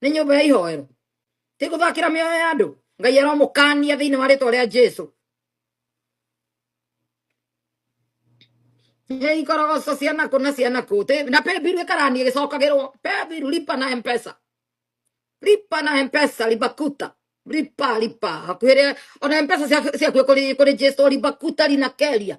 nĩ nyũmba ya ihoero ti gũthakĩra mĩoyo ya andũ ngai aromũkania thĩinĩ wa rĩtwa rĩa jesu Nĩ ikorogoco cia nakũ na cia nakũ Tĩ- na pembiru ĩkarani ĩgĩcokagĩrwo pembiru lipa na mpesa lipa na mpesa libakuta lipa lipa hakuhĩrĩa ona mpesa ciaku ciaku kũrĩ kũrĩ jesu libakuta linakeria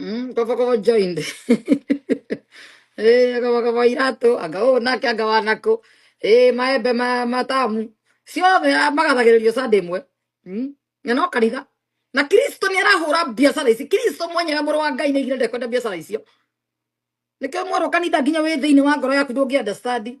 Mm, kaba kaba joined. Eh, kaba kaba irato, anga o na kya gawa nako. Eh, maembe ma matamu. Sio me magathagĩrĩrio Sunday mwe. Mm. Na no kariga. Na Kristo nĩ arahũra biacara ici. Kristo mwenyewe mũrũ wa Ngai nĩ aigire ndekwenda biacara icio. Nĩkĩo mwarwo kanitha nginya wĩ thĩinĩ wa ngoro yaku ndũngĩ understand.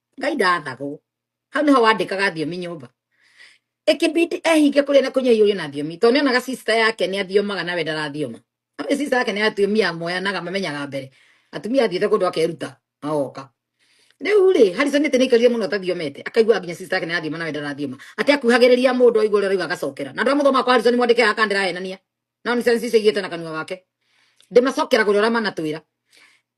ngai ndathagwo hau nĩho wandĩkaga thiomi nyũmba ĩkĩbidi ehinge kũrĩa na kũnyua iũrĩo na thiomi tondũ nĩonaga sister yake nĩ athiomaga nawe ndarathioma no nĩ sister yake nĩ atumia moyanaga mamenyaga mbere atumia athiĩte kũndũ akeruta agoka rĩu rĩ harrison ĩtĩ nĩ aikarire mũno athathiomete akaigua nginya sister yake nĩ athioma nawe ndarathioma atĩ akuhagĩrĩria mũndũ aigua ũrĩa arauga agacokera na andũ a mũthoma kwa harrison mwandĩke aka ndĩrahenania nao nĩ sensi icio igĩte na kanua gake ndĩmacokeraga ũrĩa ũramanatwĩra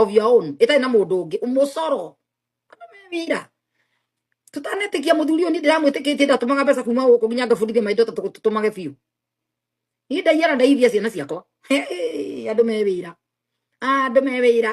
of your own itarĩ na mũndũ ũngĩ mũcoro wira tũtanetĩkia mũthuri ũyũ niĩ ndĩramwĩtĩkĩtie ndatũmaga mbeca kuma gũkũ nginya ngabundithia maindo ta tũtũmage biũ niĩ ndaiyara ndaithia ciana ciakwa Hey, andũ me wĩra andũ me wĩra